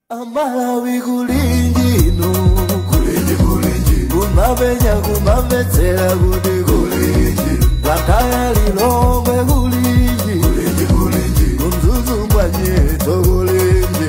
amalawi kulinji uno kulinji kulinji kumapenya kumamvetsera kuti kulinji wa kwaya lilongwe kulinji kulinji kulinji kumzuzu mbwanyeto kulinji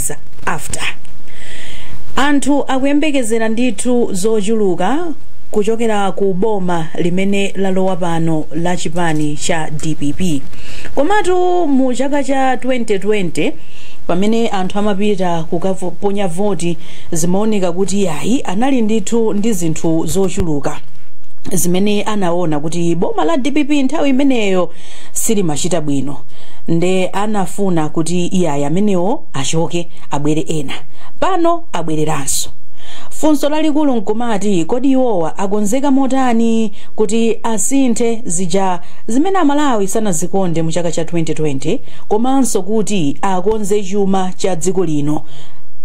days after anthu akuyembekezera ndithu zochuluka kuchokera ku boma limene lalowa pano la chipani cha dpp komatu mu chaka cha 2020 pamene anthu amapita kukaponya voti zimaoneka kuti ayi anali ndithu ndi zinthu zochuluka zimene anaona kuti boma la dpp nthawi imeneyo silimachita bwino nde anafuna kuti iyayi amenewo achoke abwere ena pano abwereranso funso lalikulu nkumati kodi iwowa akonzeka motani kuti asinthe zija zimene amalawi sanazikonde mu chaka cha 2020 komanso kuti akonze chuma cha dziko lino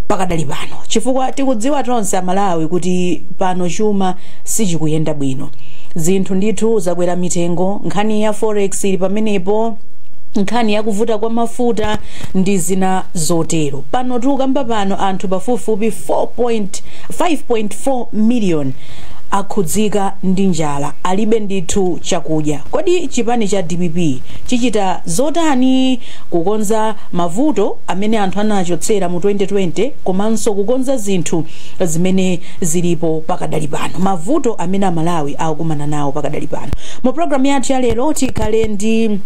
pakadali pano chifukwa tikudziwa tonse amalawi kuti pano chuma sichikuyenda bwino zinthu ndithu zakwera mitengo Nkhani ya forex ili pamenepo, nkhani ya kuvuta kwa mafuta ndi zina zotero. Pano tikukamba pano anthu pafupifupi 4 point, 5.4 million akhudzika ndi njala, alibe ndithu chakudya. Kodi chipani cha dpp chichita zotani kukonza mavuto amene anthu anachotsera mu 2020 komanso kukonza zinthu zimene zilipo pakadali pano? Mavuto amene Amalawi akukumana nawo pakadali pano mu programu yathu ya lero tikhale ndi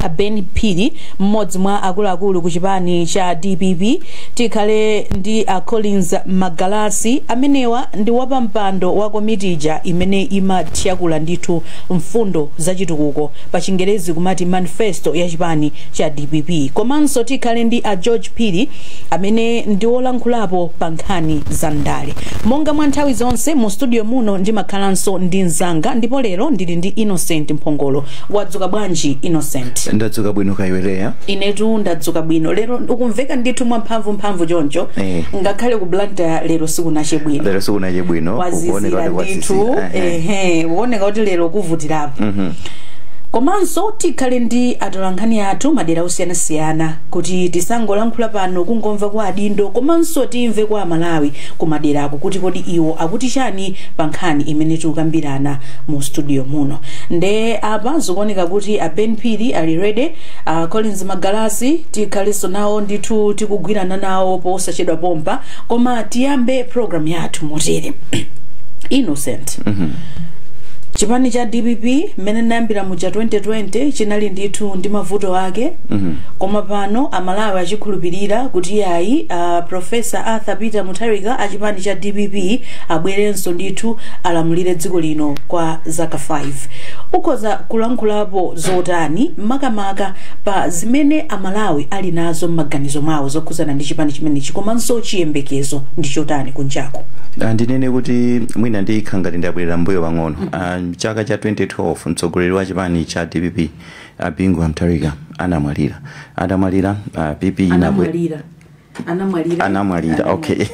a ben phiri mmodzi mwa akuluakulu ku chipani cha dpp tikhale ndi a collins magalasi amenewa ndi wapampando wa komiti ija imene imatakula ndithu mfundo za chitukuko pa chingerezi kumati manifesto ya chipani cha dpp komanso tikhale ndi a george phiri amene ndi wolankhulapo pa nkhani za ndale. Monga mwa nthawi zonse, mu studio muno ndimakhalanso ndi mnzanga ndipo lero ndili ndi Innocent Mphongolo. Wadzuka bwanji Innocent? Ndadzuka bwino kaya iwe Leya? Inetu ndadzuka bwino. Lero ukumveka ndithu mwamphamvumphamvu choncho. Eh. Ngakhale ku Blantyre lero sikunache bwino. Lero sikunache bwino, kukuoneka Kwazizira kuti kwazizira. ndithu. Eh, eh. Ehe, kukuoneka kuti lero kuvutirapo. Komanso tikhale ndi atolankhani athu madera osiyanasiyana kuti tisangolankhula pano kungomva kwa adindo komanso timve kwa amalawi kumaderaku kuti kodi iwo akuti chani pa nkhani imene tikukambirana mu studio muno nde apa zikuoneka kuti a ben phiri ali ready uh, collins magalasi tikhalenso nawo ndithu tikugwirana nawo posachedwa pompa koma tiyambe program yathu motere innocent chipani cha dpp mmene inayambira muja 2020 chinali ndithu ndi mavuto ake koma pano Amalawi achikhulupirira kuti iyayi a Professor Arthur Peter Mutharika a chipani cha dpp abwerenso ndithu alamulire dziko lino kwa zaka 5. Ukhoza kulankhulapo zotani makamaka pa zimene Amalawi ali nazo m'maganizo mwawo zokhudzana ndi chipani chimenechi komanso chiyembekezo ndi chotani kunjaku? Ah, ndinene kuti mwina ndikhale ngati ndabwerera mbuyo pang'ono Ah, mchaka cha 2012 mtsogoleri wa chipani cha dpp a bingu wa mutharika anamwalira atamwalira a pp inabwe anamwalira anamwalira anamwalira okay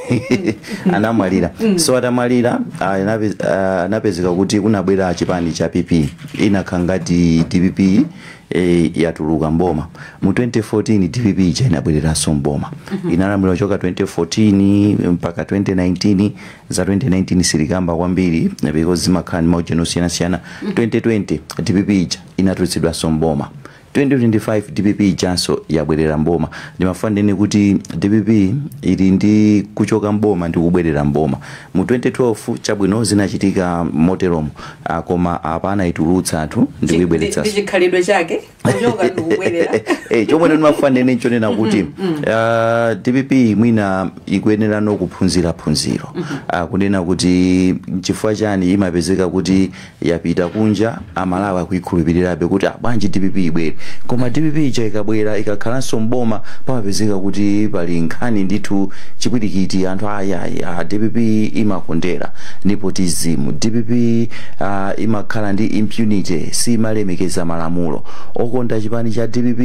anamwalira so atamwalira ah, anape- ah, anapezeka kuti kunabwera chipani cha pp inakhala ngati dpp eh, yatuluka mboma mu 2014 dpp ija inabwereranso mboma inalamulira choka 2014 mpaka 2019 za 2019 sindikamba kwambiri because zimakhala ndi maujeni osiyanasiyana 2020 dpp ija inatulutsidwanso m'boma. 2025 dpp ijanso yabwerera m'boma. Ndimafuna ndinene kuti dpp ili ndi kuchoka m'boma ndi kubwerera m'boma. Mu 2012 chabwino zinachitika moteromo ah, koma apa anaitulutsa anthu ndi Chi- ndi kuibweretsanso. chikhalidwe chake kuchoka ndi kubwerera Eh, chomwe ndimafuna ndinene nchonena kuti ah, dpp mwina ikuyenera ano kuphunzira phunziro Ah, kunena kuti nchifukwa chani imapezeka kuti yapita kunja amalawi akuikhulupilirabe kuti ah bwanji dpp ibwere koma dpp ija ikabwera ikakhalanso m'boma pamapezeka kuti pali nkhani ndithu chipwirikiti anthu ayi ayi ah, dpp imakondera nepotism dpp ah, imakhala ndi impunity siimalemekeza malamulo okonda chipani cha dpp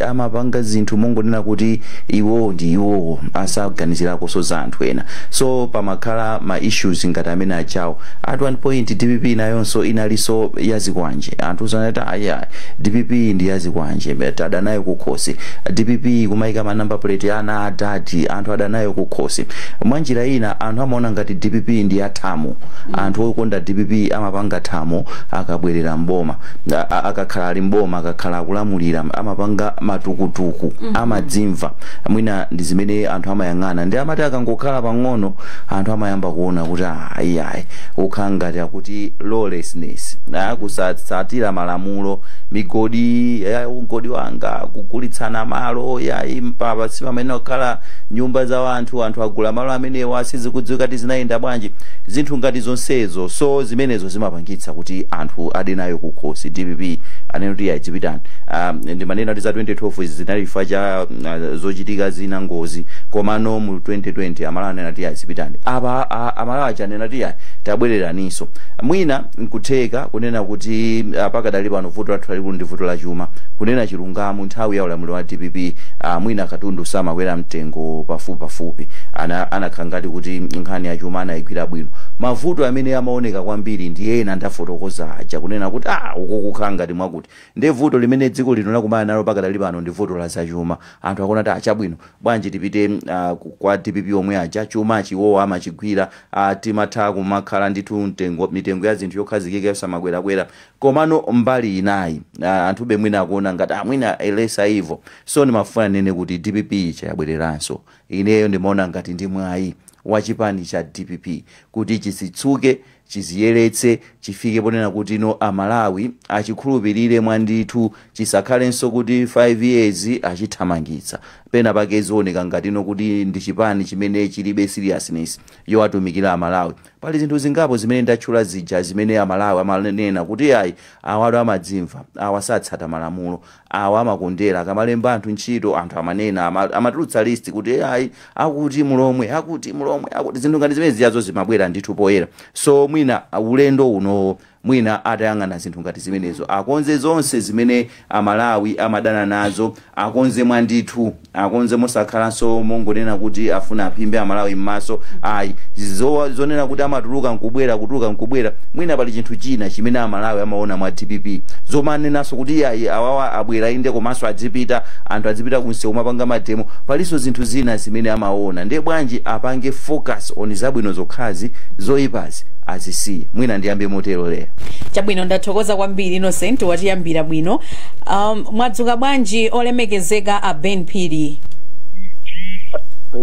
amapanga zinthu mongonena kuti iwowo ndi iwowo asaganizirakonso za anthu ena so pamakhala ma issues ngati amene ajawo at one point dpp nayonso inalinso ya zikwanje anthu anati ayi ayi dpp ndi ya zikwanje anthu adanayo kukhosi dpp kumayika ma number plate ya ana a dadi anthu adanayo kukhosi mwa njira ina anthu amaona ngati dpp ndi ya thamo anthu okonda dpp amapanga thamo akabwerera mboma A- a- akakhala ali mboma akakhala akulamulira amapanga matukutuku amadzimva mwina ndi zimene anthu amayang'ana nde amati akangokhala pang'ono anthu amayamba kuona kuti ah, ayi ayi ukhala ngati akuti lawlessness ah, kusatsatira malamulo migodi ya mkodi wanga kugulitsana malo ya ku Mpatsa pamene kukhala nyumba za anthu anthu agula malo amenewa sizikudziwika kuti zinayenda bwanji zinthu ngati zonsezo so zimenezo zimapangitsa kuti anthu ade nayo kukhosi dpp anene kuti iyayi pitani um, ndiye manena kuti za 2012 izi zinali chifukwa cha uh, zochitika zina ngozi komano mu mu 2020 amalawi anena kuti ayi zipitani apa a- a- amalawi aja anena kuti ayi tabwereraninso mwina nkutheka kunena kuti ah, pakadali pano vuto lathu lalikulu ndi vuto la chuma kunena chilungamo nthawi ya ulamuliro wa dpp ah, mwina katundu samakwera mtengo pafupi pafupi ana anakhala ngati kuti nkhani ya chuma anayigwira bwino mavuto amene amaoneka kwambiri ndi ena ndafotokoza aja kunena kuti ah uko kukhala ngati mwakuti ndi vuto limene dziko lino lakumana nalo pakadali pano ndi vuto la zachuma anthu akuona kuti ah chabwino Bwanji tipite uh kwa dpp omwe aja chumachi iwowo amachigwira uh timatha kumakhala ndithu mtengo mitengo ya zinthu yokhazikika yosamakwerakwera komano mbali inayi uh anthube mwina akuona ngati uh mwina a lesser evil so ndimafuna ndinene kuti dpp ija yabwereranso ineyo ndimaona ngati ndi mwayi wa chipani cha dpp kuti chidzitsuke chidziyeretse chifike ponena kuti no amalawi achikhulupirire mwandithu chisakhalenso kuti 5 years achithamangitsa pena pake zioneka ngati no kuti ndi chipani chimene chilibe seriousness yowatumikira amalawi pali zinthu zingapo zimene ndatchula zija zimene amalawi amanena kuti ai awatu amadzimva awa satsata malamulo Awa amakondera akamalemba anthu ntchito anthu amanena ama amatulutsa list kuti ee ayi akuti mulomwe akuti mulomwe akuti zinthu ngati zimene zijazo zimabwera ndithu poyera so mwina ulendo uno mwina atayang'ana zinthu ngati zimenezo akonze zonse zimene amalawi amadana nazo akonze mwandithu akonze mosakhalanso mongonena kuti afuna aphimbe amalawi mmaso ayi Zo, zonena kuti amatuluka nkubwera kutuluka nkubwera mwina pali chinthu china chimene amalawi amaona mwa dpp zomanenanso kuti iyayi awawa abwera inde komanso adzipita anthu adzipita kumsewu kumapanga mademo palinso zinthu zina zimene amaona ndiye bwanji apange focus on zabwino zokhazi zoyipazi azisiye mwina ndiyambe motero lero Chabwino ndathokoza kwambiri Innocent watiyambira bwino. Um, Mwadzuka bwanji olemekezeka a Ben Phiri?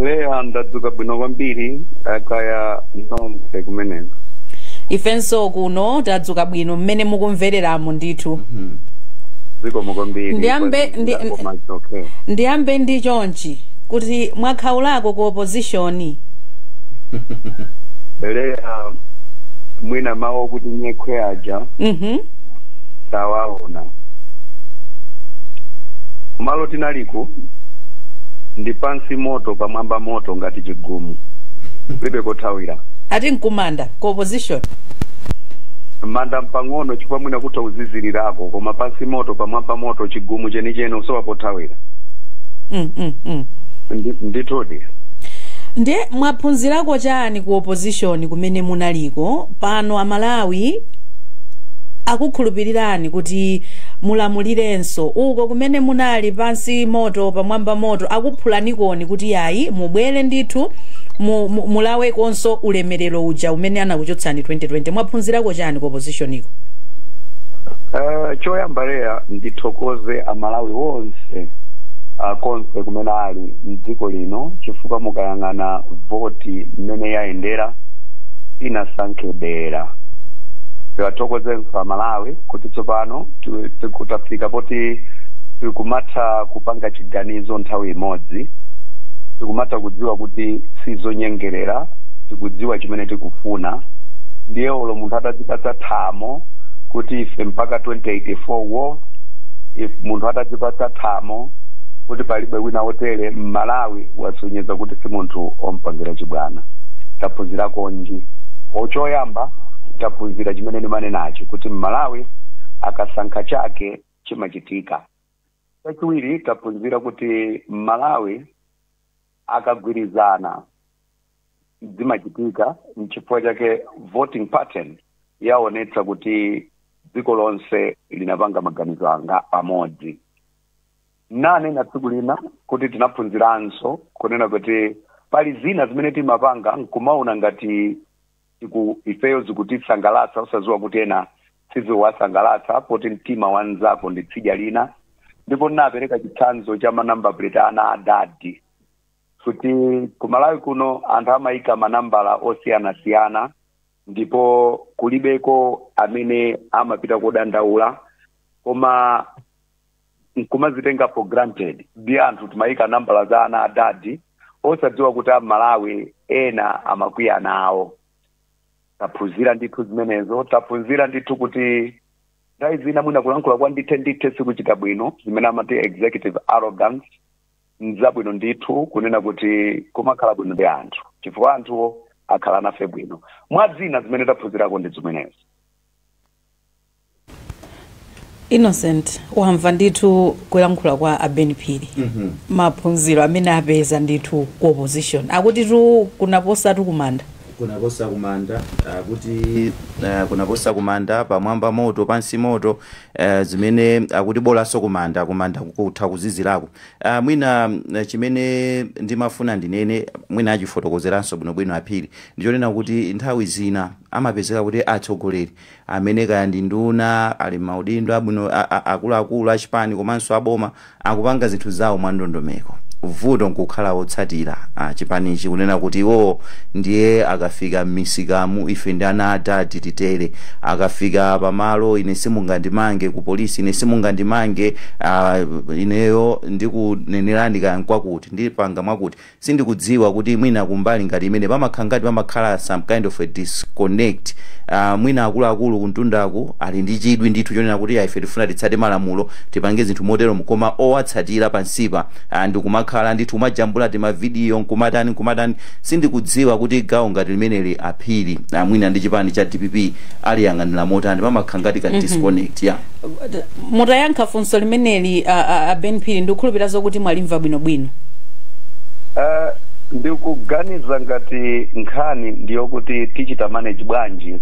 Leya ndadzuka bwino kwambiri kaya nonse kumeneko. Ifenso kuno tadzuka bwino mmene mukumvereramu ndithu. Zikomo kwambiri. Ndiyambe- kwa- ndi- koma it's okay. Ndiyambe ndi chonchi kuti mwakhalako ku opposition. Leya mwina mawu okuti nyekhwe aja. Mhm. hmm? tawaona kumalo tinaliko ndi pansi moto pamwamba moto ngati chigumu kulibe kothawira ati nkumanda ku opposition manda mpang'ono chifukwa mwina kutha uzizirirako koma pansi moto pamwamba moto chigumu chenicheni usowa pothawira mm, mm, mm. Ndi- ndithudi ndiye mwaphunzirako chani ku opposition kumene munaliko pano amalawi akukhulupirirani kuti mulamulirenso uko kumene munali pansi moto pamwamba moto akuphulanikoni kuti yayi mubwere ndithu mu- mu- mulawekonso ulemerero uja umene anakuchotsani 2020 mwaphunzirako chani ku opposition iko Eh, choyamba lekani ndithokoze amalawi onse ah, konse kumene ali ali mdziko lino chifukwa mukayang'ana voti mmene yayendera sinasankhe dera tiwathokozenso amalawi kuti tsopano tu- tiku- tafika poti tikumatha kupanga chiganizo nthawi imodzi tikumatha kudziwa kuti sizonyengerera tikudziwa chimene tikufuna ndiye olo munthu atadzipatsa thamo kuti ife mpaka 2084 wo if munthu atadzipatsa thamo thamo kuti palibe wina wotere mmalawi wasonyeza kuti si munthu ompangira chibwana taphunzira kunja uko choyamba taphunzira chimene ndimanenachi kuti mmalawi akasankha chake chimachitika chachiwiri taphunzira kuti mmalawi akagwirizana zimachitika nchifukwa chake voting pattern yaonetsa kuti dziko lonse linapanga maganizo awa pamodzi nanena tsiku lina kuti tinaphunziranso kunena kuti pali zina zimene timapanga nkumaona ngati tiku ifeyo zikutisangalatsa usaziwa kuti ena siziwasangalatsa poti mtima wa mnzako ndi tsidya lina ndipo ndinapereka chitsanzo cha manamba plate ana adadi kuti kumalawi kuno anthu amayika manambala osiyanasiyana ndipo kulibeko amene amapita kodandaula koma nkumazitenga for granted ndi anthu timayika nambala za ana adadi osadziwa kuti amalawi ena amakwiya nawo taphunzira ndithu zimenezo taphunzira ndithu kuti nthawi zina mwina kulankhula kwa ndithe ndithe sikuchita bwino zimene amati executive arrogance nzabwino ndithu kunena kuti kumakhala bwino ndi anthu chifukwa anthuwo akhala nafe bwino mwa zina zimene taphunzirako ndi zimenezi innocent wamva ndithu kulankhula kwa a ben phiri maphunziro amene apeza ndithu ku opposition akuti tu kunaposatu kumanda kunaposa kumanda uh, kuti uh, kunaposa kumanda pamwamba moto pansi moto uh, zimene akuti bolanso kumanda kumanda kutha kuzizirako uh, mwina uh, chimene ndimafuna ndinene mwina achifotokozeranso bwinobwino aphiri ndichonena kuti nthawi zina amapezeka kuti atsogoleri amene kaya ndi nduna ali mmaudindo abwino a- a- akuluakulu achipani komanso aboma akupanga zinthu zawo mwandondomeko vuto nkukhala otsatira a chipanichi kunena kuti iwowo ndiye akafika mmisikamu ife ndi ana a dadi titere, akafika pamalo ine simungandimange ku police ine simungandimange aah ineyo ndikunenerani kaya nkwakuti ndipanga mwakuti sindikudziwa kuti mwina kumbali ngati imene pamakha ngati pamakhala some kind of a disconnect aah mwina akuluakulu kumtundaku ali ndi chidwi ndithu chonena kuti aah ife tikufuna titsate malamulo tipange zinthu moteromo koma owatsatira pansipa aah ndikumakhala ndithu kumajambula tima video nkumatani nkumatani sindikudziwa kuti gawo ngati limeneli a Phiri aah mwina ndi chipani cha dpp aliyang'anira motani pamakha ngati ka disconnect yeah. mutayankha funso limeneli a, a, a ben phiri ndikukhulupirira zokuti mwalimva bwinobwino Eh, ndikuganiza ngati nkhani ndiyokuti tichita manage bwanji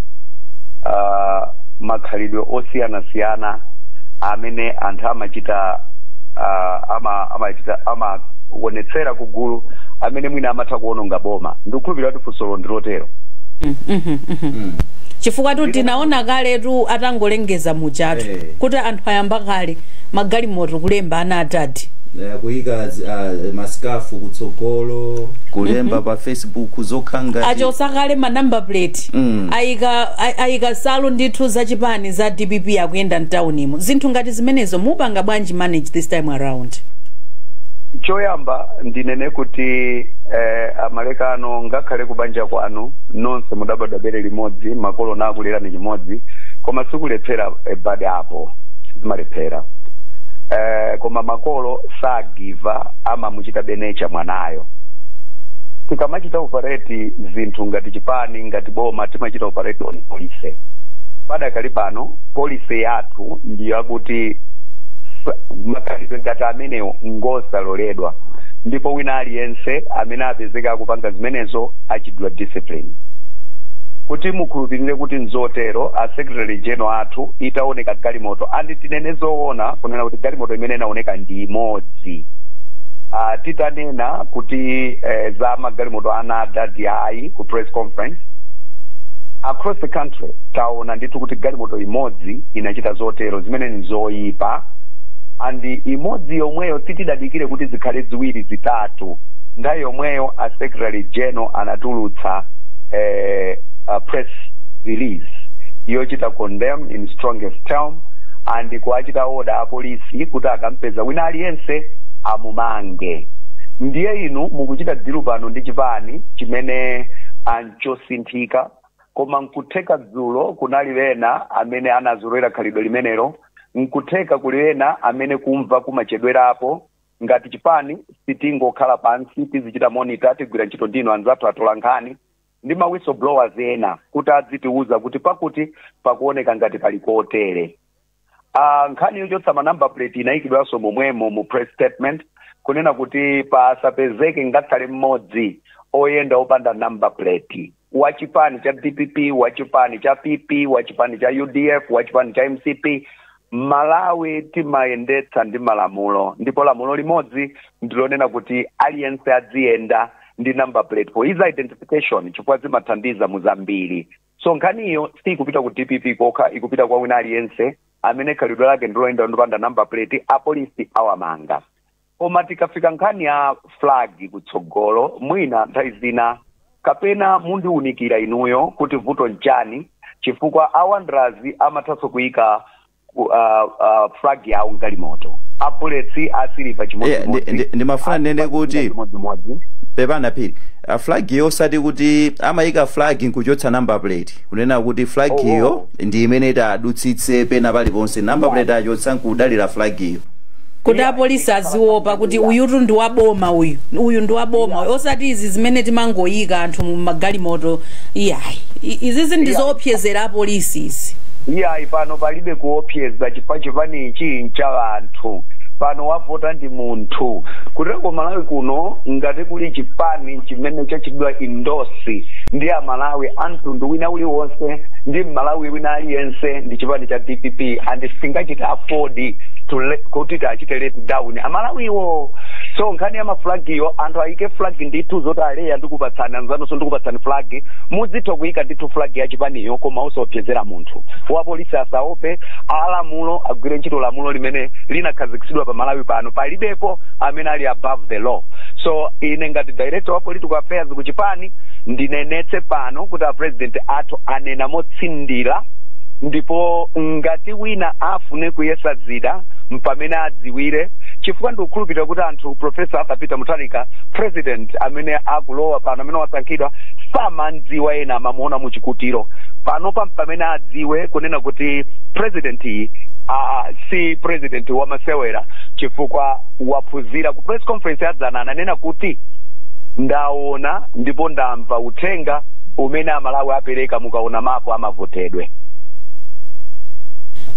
ah, makhalidwe osiyanasiyana amene anthu amachita ah, ama amachita amaonetsera kugulu amene mwina amatha kuononga boma ndikukhulupirira kuti funsolo ndilotero Mm, mhm, mhm. chifukwa tu tinaona kaletu atangolenga kulengeza mujatu Eh. kuti anthu ayamba kale magalimoto kulemba ana adadi Eh, kuyika zi- ah, masikafu kutsogolo kulemba pa facebook zokhanga achosa kale ma number plate Mm. ayika ay- ayika nsalu ndithu za chipani za dpp akuyenda mtaunimu zinthu ngati zimenezo mupanga bwanji timanage this time around choyamba ndinene kuti eh, amalekano ngakhale kubanja kwanu nonse mudabadwa bere limodzi makolo nakulerani chimodzi koma sikulephera eh, bad apple sizimalephera eh, koma makolo sagiva up amamuchita benecha mwanayo tikamachita operate zinthu ngati chipani ngati boma timachita operate on policy padakali pano policy yathu athu ndiyo akuti sa- makhalidwe ngati amenewo ngosaloledwa ndipo wina aliyense amene apezeka akupanga zimenezo achitidwa discipline kuti mukhulupirire kuti nzotero a secretary general athu itaoneka galimoto andi tinene zoona kunena kuti galimoto imene inaoneka ndi imodzi Ah, titanena kuti eh, za magalimoto anadadi ayi ku press conference across the country tao ona ndithu kuti galimoto imodzi inachita zotero zimene ni zoyipa and imodzi yomweyo sitinadikire kuti zikhale ziwiri zitatu nthawi yomweyo a secretary general anatulutsa eh, a press release yochita condemn in strongest term and kuwachita order apolisi kuti akampeza wina aliyense amumange ndiye inu mukuchita dilu pano ndi chipani chimene anchosinthika Koma nkutheka dzulo kunali ena amene anazolowera khalidwe limenelo. Nkutheka kuli ena amene kumva kumachedwerapo. Ngati chipani, sitingokhala pansi, tizichita monitor, tigwira ntchito ndi inu anzathu atolankhani ndi ma whistleblowers ena kuti adzitiuza kuti pakuti pakuoneka ngati pali kotere. Ah, nkhani yochotsa ma number plate inayikidwanso momwemo mu press statement kunena kuti pasapezeke ngakhale mmodzi oyenda opanda number plate wa chipani cha dpp wa chipani cha pp wa chipani cha udf wa chipani cha mcp malawi timayendetsa ndi malamulo ndipo lamulo limodzi ndilonena kuti aliyense adziyenda ndi number plate for his identification chifukwa zimathandiza mu zambiri so nkhaniyo siikupita ku dpp kokha ikupita kwa wina aliyense amene khalidwe lake ndiloyenda opanda number plate apolisi awamanga koma tikafika nkhani ya flag kutsogolo mwina nthawi zina kapena mundiunikira inuyo kuti vuto nchani chifukwa a Wanderers amathanso kuyika ku- ah, ah, flag yawo mgalimoto a Bullets a Silver Yeah, ndi- chimodzimodzi ndi- ndimafuna ndinene Silver kuti- chimodzimodzi pepana phiri uh, flag yo osati kuti amayika flag nkuchotsa number plate kunena kuti flag Oh, yo oh. ndi imene itadutsitse pena paliponse number Yeah. plate achotsa nkudalira flag yo kuti apolisi aziwopa kuti uyutu ndi waboma uyu uyu ndi waboma uyu osati izi zimene timangoyika anthu mu magalimoto iyayi I- izizi ndi zoopsezera apolisi izi iyayi pano palibe kuopseza chifukwa chipani ichi ncha anthu pano wavota ndi munthu kuteko malawi kuno ngati kuli chipani chimene chachitidwa endorse ndi amalawi a mtundu wina uliwonse ndi mmalawi wina aliyense ndi chipani cha dpp and singachite afford ndi to le- kuti tiachite let down amalawiwo so nkhani ya maflagiyo anthu ayike flag ndithu zoti aleya ndikupatsani anzanunso ndikupatsani flag mudzitha kuyika ndithu flag ya chipaniyo koma osaopsezera munthu wapolisi asaope alamulo agwire ntchito lamulo limene linakhazikitsidwa pa malawi pano palibepo amene ali above the law so ine ngati director wa political affairs ku chipani ndinenetse pano kuti a president athu anena motsindira ndipo ngati Ngati wina afune kuyesa zida mpamene adziwire chifukwa ndikukhulupirira kuti anthu Prof. Arthur Peter Mutharika president amene akulowa pano amene wasankhidwa samamdziwa ena amamuona muchikutiro panopa mpamene adziwe kunena kuti president iyi aa si president wamasewera chifukwa waphunzira ku press conference yadzana ananena kuti ndaona ndipo ndamva uthenga umene amalawi apereka mukaona mapo ama votedwe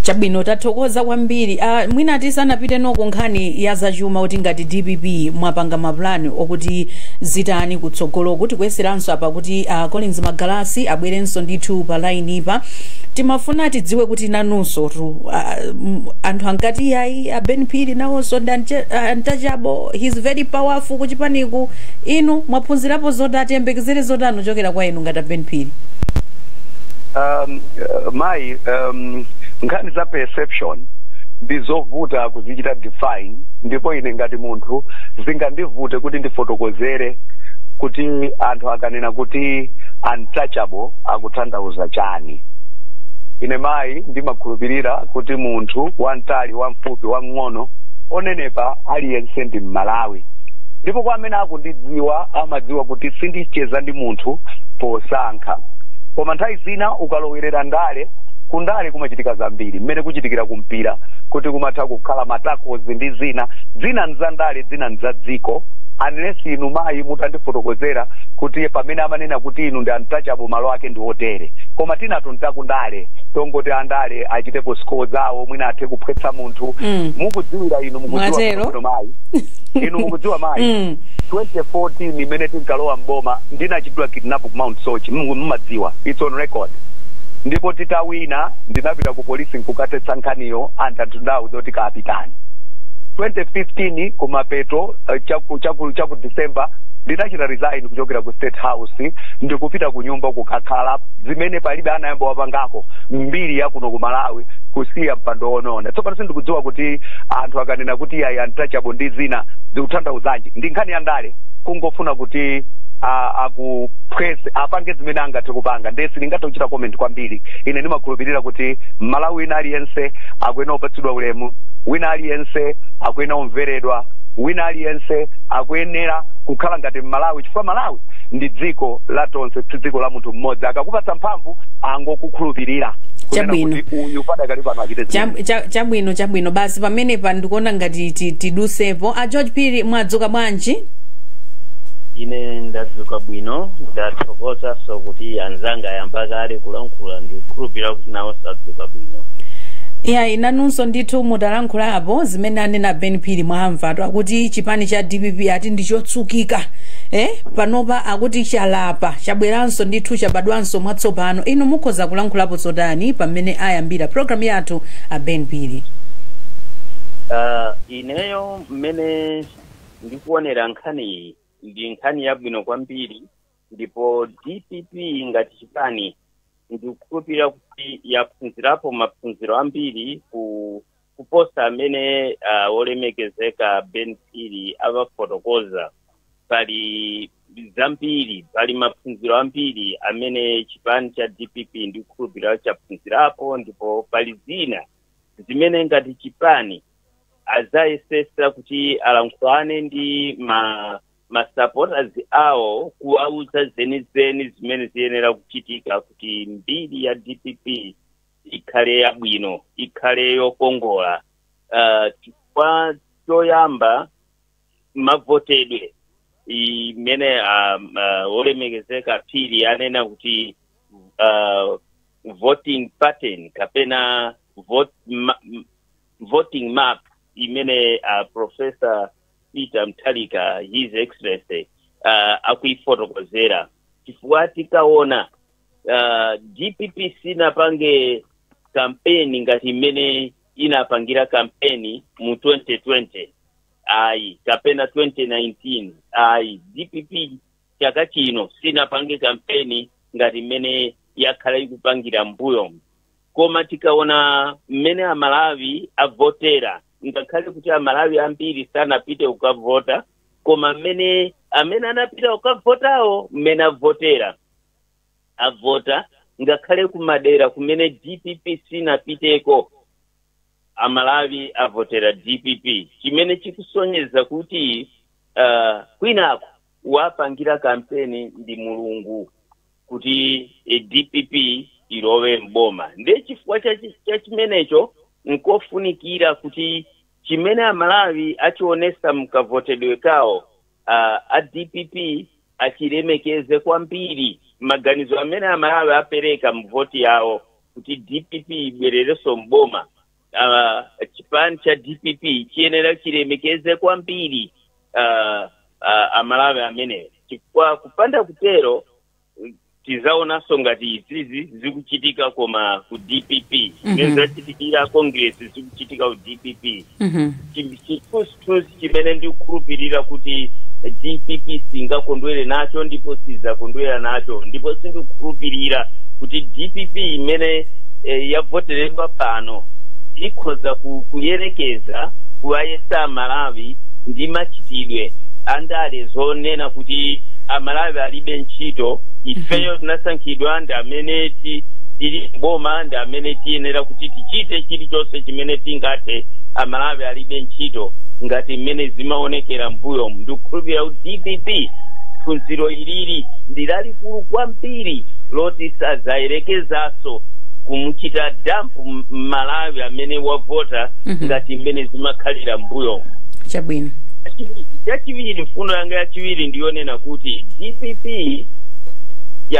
chabwino tathokoza kwambiri uh, mwina tisanapite noko nkhani ya zachuma kuti ngati dpp mwapanga mapulani okuti zitani kutsogoloku tikuyeseranso apa kuti uh, collins magalasi abwerenso ndithu pa lainipa timafuna tidziwe kuti nanunsotu uh, m- anthu ankati ayi aben phiri nawonso ndi uncha- ah, untouchable he's very powerful kuchipaniku inu mwaphunzirapo zotani tiyembekezere zotani kuchokera kwa inu anthu ngati aben phiri um, uh, mayi um, nkhani za perception ndi zovuta kuzichita define ndipo ine ngati munthu zingandivute kuti ndifotokozere kuti anthu akanena kuti untouchable akutanthauza chani ine mayi ndimakhulupirira kuti munthu wamtali wamfupi wamng'ono onenepa aliyense ndi mmalawi ndipo kwa amene akundidziwa amadziwa kuti sindicheza ndi munthu posankha koma nthawi zina ukalowerera ndale kundale kumachitika zambiri mmene kuchitikira kumpira kuti kumatha kukhala matakozi ndi zina zina nza ndale zina nza dziko unless inu mayi mutandifotokozera kuti pamene amanena kuti inu ndi untouchable malo ake ndi otere koma tinatu ntakundale tongoti andale achitepo score zawo mwina athe kuphwetsa munthu Mm. mukudziwira inu mukudziwa Mwatero. bwino mayi inu mukudziwa mayi Mm. 2014 imene tinkalowa mboma ndinachitidwa kidnap ku mount soche Mulungu mumadziwa it's on record ndipo titawina ndinapita ku polisi nkukathetsa nkhaniyo anthu anthu ndawauza kuti kapitani 2015 kumapeto uh, chaku, chaku, chaku december ndinachita resign kuchokera ku state house ndikupita ku nyumba kukakhala zimene palibe anayamba wapangako mmbiri yakuno ku malawi kusiya mpando ono Tsopano sindikudziwa kuti anthu akanena kuti ayi untouchable ndi zina zikutanthauzanji ndi nkhani ya ndale kungofuna kuti a- akupress apange zimene angathe kupanga ndiye sindingathe kuchita comment kwambiri ine ndimakhulupirira kuti mmalawi wina aliyense akuyenera kupatsidwa ulemu wina aliyense akuyenera kumveredwa wina aliyense akuyenera kukhala ngati mmalawi chifukwa malawi ndi dziko la tonse si dziko la munthu mmodzi akakupatsa mphamvu angokukhulupirira Kunena kuti uyu padakali pano achite zimene. Chab- cha- chabwino chabwino basi pamenepo ndikuona ngati ti- tidusepo a george phiri mwadzuka bwanji ine ndadzuka bwino ndathokozanso kuti anzanga ayamba kale kulankhula ndikukhulupirira kuti nawonso adzuka bwino ya inunso ndithu mutalankhulapo zimene anena ben phiri mwamvatu akuti chipani cha dpp ati ndi chotsukika eh? panopa akuti chalapa chabweranso ndithu chabadwanso mwatsopano inu mukhoza kulankhulapo zotani pamene ayambira program yathu a ben phiri Ah, ineyo mmene ndikuonera nkhaniyi ndi nkhani yabwino kwambiri ndipo dpp ngati chipani ndikukhulupirira kuti yaphunzirapo maphunziro ambiri ku kuposa amene uh, olemekezeka ben phiri awafotokoza pali zambiri pali maphunziro ambiri amene chipani cha dpp ndikukhulupirira chaphunzirapo ndipo pali zina zimene ngati chipani azayesesa kuti alankhulane ndi masupporters awo kuwauza zenizeni zimene ziyenera kuchitika kuti mbiri ya dpp ikhale yabwino ikhale yokongola uh, chifukwa choyamba mavotedwe mmene um, uh, olemekezeka phiri anena kuti uh, voting pattern kapena vote, ma, m- voting map mmene uh, professor peter mutharika his excellency uh, akuifotokozera chifukwa tikaona uh, dpp sinapange kampeni ngati mmene inapangira kampeni mu 2020 ayi kapena 2019 ayi dpp chaka chino sinapange kampeni ngati mmene yakhala ikupangira mbuyo koma tikaona mmene amalawi avotera ngakhale kuti amalawi ambiri sanapite kukavota koma mmene amene anapita kukavotawo mmene avotera avota ngakhale kumadera kumene dpp sinapiteko amalawi avotera dpp chimene chikusonyeza kuti a, kwinako wapangira kampeni ndi mulungu kuti eh, dpp ilowe mboma ndiye chifukwa cha chi- cha chimenecho nkofunikira kuti chimene amalawi achionesa mkavotedwe kawo uh, a dpp achilemekeze kwambiri maganizo amene amalawi apereka mvoti yawo kuti dpp ibwerereso mboma uh, chipani cha dpp chiyenera chilemekeze kwambiri uh, uh, amalawi ameneyo chifukwa kupanda kutero tizaonanso ngati izizi zikuchitika koma ku dpp zimene zachitikira a congress zikuchitika ku dpp Mhm. Chi- chithunzithunzi chimene ndikukhulupirira kuti dpp singakondwere nacho ndipo sizakondwera nacho ndipo sindikukhulupirira kuti dpp imene eh, yavoteredwa pano ikhoza ku- kuyerekeza kuwayesa amalawi ndi machitidwe andale zonena kuti amalawi alibe ntchito ifeyo tinasankhidwa ndi amene ti- tili boma ndi amene tiyenera kuti tichite chilichonse chimene tingathe amalawi alibe ntchito ngati mmene zimaonekera mbuyomu ndikukhulupirira kuti dpp phunziro ilili ndi lalikulu kwambiri loti sazayerekezaso kumuchita dampu m- mmalawi amene wavota Mhm. ngati mmene zimakhalira mbuyomu chabwino chachiwiri mfundo yanga ya yachiwiri ndiyonena kuti dpp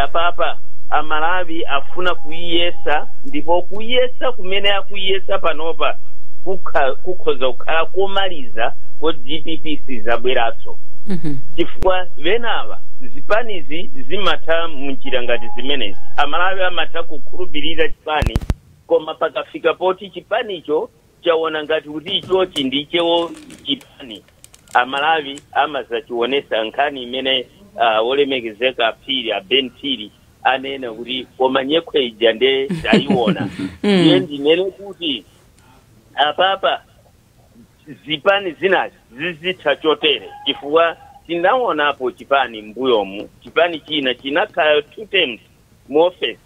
apapa amalawi afuna kuyiyesa ndipo kuyesa kumene akuyiyesa panopa kukha- kukhoza kukhala komaliza ko dpp sizabweranso Mhm. chifukwa enawa zipanizi zimatha munjira ngati zimenezi amalawi amatha kukhulupirira chipani koma pakafika poti chipanicho chaona ngati kuti ichochi ndichewo chipani amalawi amazachiwonesa nkhani imene uh, wolemekezeka a phiri a ben phiri anena kuti koma nyekhwe ija nde tayiona iye ndinene kuti apapa zipani zinazi zizitha chotere chifukwa tinaonapo chipani mbuyomu chipani china chinakhala two terms mu office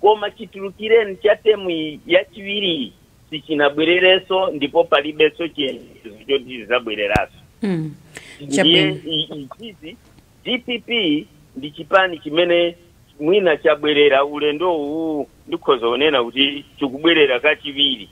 koma chitulukireni cha temu yachiwiri sichinabwererenso ndipo palibenso chiyembekezo choti chizabwereranso Mm. ndiye Chabwino. i- izi dpp ndi chipani chimene mwina chabwerera ulendo uwu ndikhoza kunena kuti chikubwerera kachiwiri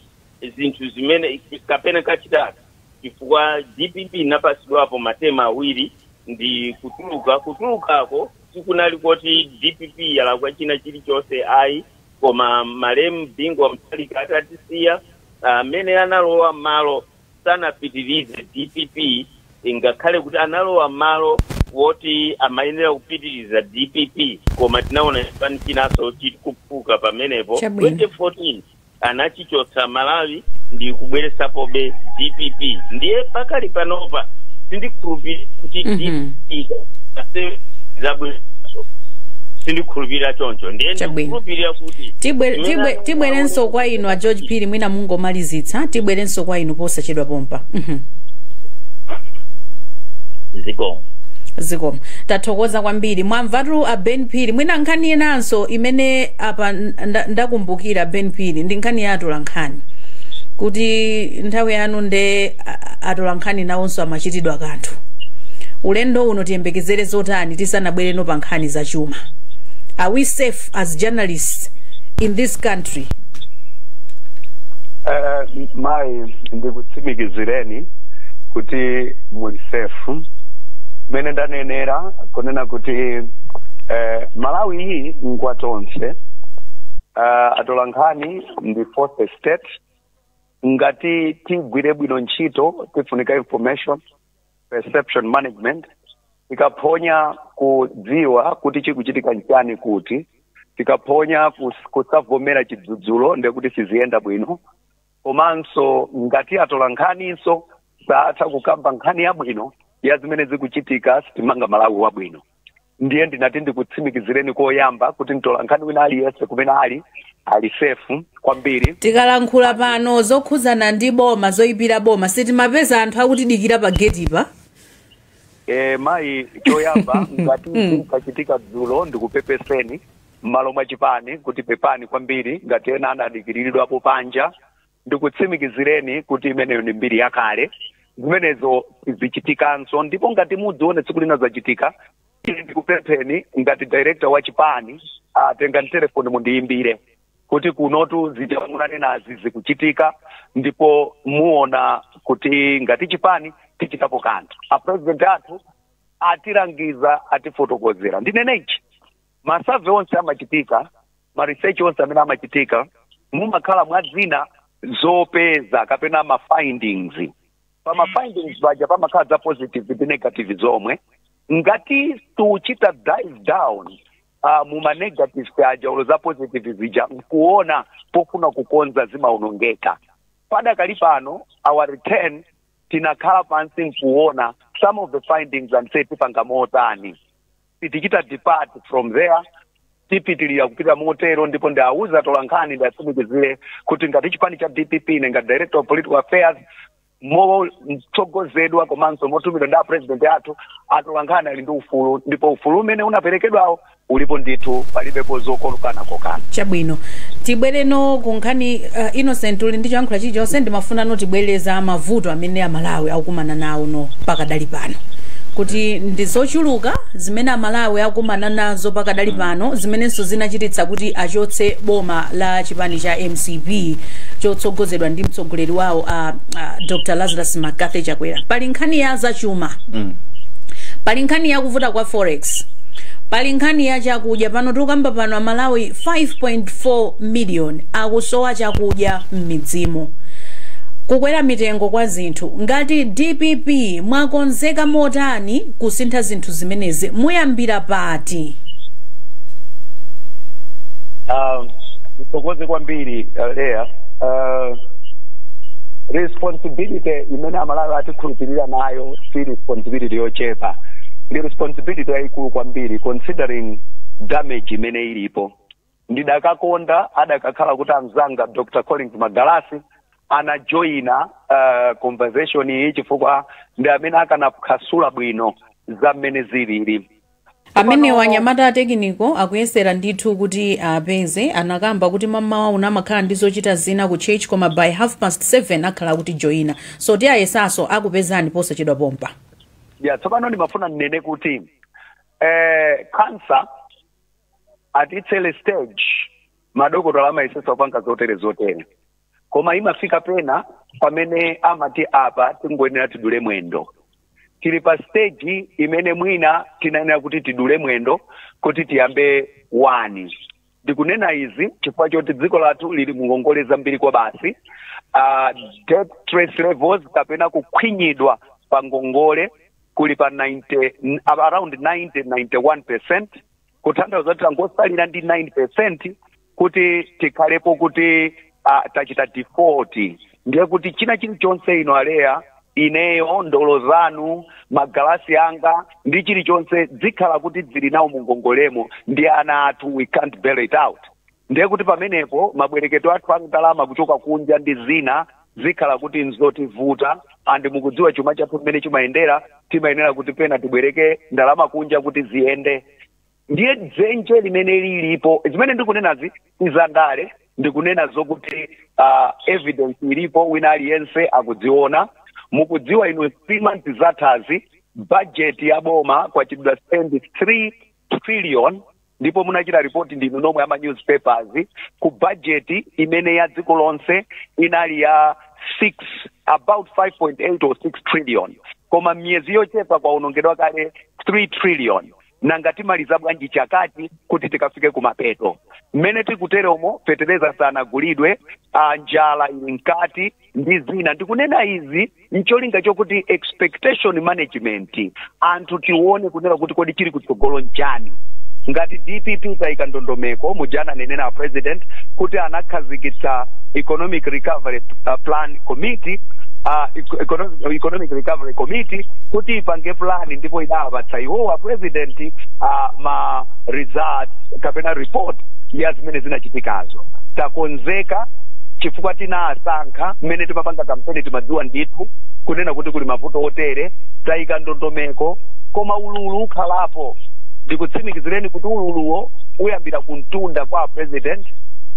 zinthu zimene kapena kachitatu chifukwa dpp inapatsidwapo matema awiri ndi kutuluka kutulukako sikunali koti dpp yalakwa china chilichonse ayi koma malemu bingu wa mutharika atatisiya amene analowa malo sanapitirize dpp ingakhale kuti analowa malo woti amayenera kupitiriza dpp koma tinaona chipani chinanso chikuphuka pamenepo Chabwino. 2014 anachi kuchotsa malawi ndi kubweretsapobe dpp ndiye pakali panopa sindikhulupirira kuti Mhm. dpp ase- izabwereranso sindikhulupirira choncho ndiye Chabwino. ndikukhulupirira kuti Tibwe- imene tibwe- anonga tibwerenso aone- kwa inu a george phiri mwina mungomalizitsa tibwerenso kwa inu posachedwa pompa Mhm. zikomo zikomo tathokoza kwambiri mwamvatu a ben phiri mwina nkhani inanso imene apa nda- ndakumbukira ben phiri ndi nkhani ya atolankhani kuti nthawi yanu nde a- a- atolankhani nawonso amachitidwa kanthu ulendo uno tiyembekezere zotani tisanabwerenso pa nkhani za chuma are we safe as journalists in this country Eh, mayi ndikutsimikizireni kuti muli safe mmene ndanenera kunena kuti eh, malawi uyu ngwa tonse uh, atolankhani ndi fourth estate ngati tigwire bwino ntchito tifunika information perception management tikaphonya kudziwa kuti chikuchitika nchani kuti tikaphonya kus- kusavomera chidzudzulo ndekuti siziyenda bwino komanso ngati atolankhaninso satha kukamba nkhani yabwino ya zimene zikuchitika sitimanga malawi wabwino ndiye ndinati ndikutsimikizireni koyamba kuti mtolankhani wina aliyense kumene ali ali safe kwambiri tikalankhula pano zokhudzana ndi boma zoyipira boma sitimapeza anthu akutidikira pa getipa e, mayi choyamba ngati kachitika dzulo ndikupepeseni m'malo mwa chipani kuti pepani kwambiri ngati ena anadikiriridwapo panja ndikutsimikizireni kuti imeneyo ndi mbiri yakale zimenezo sizichitikanso ndipo ngati mudzione tsiku lina zachitika ine ndikupempheni ngati director wa chipani mutenge telefoni mundiyimbire kuti kunotu zija munanenazi zikuchitika ndipo muona kuti ngati chipani tichitapo kanthu a president athu atilangiza atifotokozera ndinene ichi masurvey onse amachitika ma research onse amene amachitika mumakhala mwa zina zopeza kapena ma findings pa ma findings paja pamakhala za positive ndi negative zomwe ngati tiuchita dive down uh, muma negative aja ulo za positive zija nkuona pofuna kukonza zimaonongeka padakali pano already tinakhala pansi nkuona some of the findings and say tipanga motani tichita depart from there tipitilira kupita motero ndipo ndiawuze atolankhani ndiatsimikizire kuti ngati chipani cha dpp ine ngati director of political affairs motsogozedwa komanso motumidwa ndi apresident athu atolankhani ali ndi ufulu ndipo ufulu umene unaperekedwawo ulipo ndithu palibepo zokolukana kokana chabwino tibwereno ku nkhani uh, innocent uli ndi choyankhula chilichonse ndimafuna no tibwere za mavuto amene amalawi akukumana nawo no pakadali pano kuti ndi zochuluka zimene amalawi akukumana nazo pakadali pano zimenenso zinachititsa kuti achotse boma la chipani cha mcp chotsogozedwa ndi mtsogoleri wawo uh, uh, dr lazarus mccarthy chakwera pali nkhani ya zachuma pali nkhani yakuvuta kwa forex pali nkhani ya chakudya pano tikukamba pano amalawi 5.4 million akusowa chakudya m'midzimu. Kukwera mitengo kwa zinthu. Ngati dpp mwakonzeka motani kusintha zinthu zimenezi? Muyambira pati? Um, ndithokoze kwambiri uh, Leah. Uh, responsibility imene amalawi atikhulupirira nayo si responsibility yochepa ndi responsibility yayikulu kwambiri considering damage imene ilipo ndidakakonda adakakhala kuti amzanga dr collins magalasi anajoyina uh, conversation iyi chifukwa ndi amene akanaphwasula bwino za mmene zilili amenewa anyamata atekiniko akuyesera ndithu kuti apeze anakamba kuti mamawa uno amakhala ndi zochita zina ku church koma by half past 7 akhala akutijoyina so ti ayesaso akupezani posachedwa pompa ya tsopano ndimafuna ndinene kuti eh, kansa at its early stage madokotala amayesetsa kupanga zotere zotere koma imafika pena pamene amati apa tingoyenera tidule mwendo tili pa stage imene mwina tinayenera kuti tidule mwendo kuti tiyambe wani ndikunena izi chifukwa choti dziko lathu lili mungongole zambiri kwa basi uh, debt stress levels kapena kukhwinyidwa pa ngongole kuli pa 90, ab- around 90 91 percent kutanthauza kuti tangosalira ndi 9 percent kuti tikhalepo kuti uh, tachita default ndiye kuti china chilichonse inu aleya ineyo ndolo zanu magalasi anga ndi chilichonse zikhala kuti zili nawo mungongolemo ndi ana athu we can't bail it out ndiye kuti pamenepo mabwereketo athu a ndalama kuchoka kunja ndi zina zikhala kuti nzotivuta and mukudziwa chuma chathu mmene chimayendera timayenera kuti pena tibwereke ndalama kunja kuti ziyende ndiye dzenje limene lilipo zimene ndikunenazi si zandale ndikunena zokuti uh, evidence ilipo wina aliyense akudziona mukudziwa in three months zathazi budget ya boma kwachitidwa spend 3 trillion ndipo munachita ripoti ndinu nomwe ama newspapers ku bajeti imene ya dziko lonse inali ya 6 about 5.8 or 6 trillion koma miyezi yochepa kwaonongedwa kale 3 trillion nanga timaliza bwanji chakati kuti tikafike kumapeto mmene tikuteromo feteleza sanagulidwe ah, njala ili mkati ndi zina ndikunena izi ncholinga chokuti expectation management anthu tione kunena kuti kodi chili kutsogolo nchani ngati dpp tayika ndondomeko muja ananena a president kuti anakhazikitsa economic recovery uh, plan committee uh, eco- economic, economic recovery committee kuti ipange plan ndipo idawapatsa iwowa a president uh, ma result kapena report ya zimene zinachitikazo takonzeka chifukwa tina sankha mmene timapanga kampeni timadziwa ndithu kunena kuti kuli mavuto otere tayika ndondomeko koma ululu ukhalapo ndikutsimikizireni kuti ululuwo uyambira kumtunda kwa president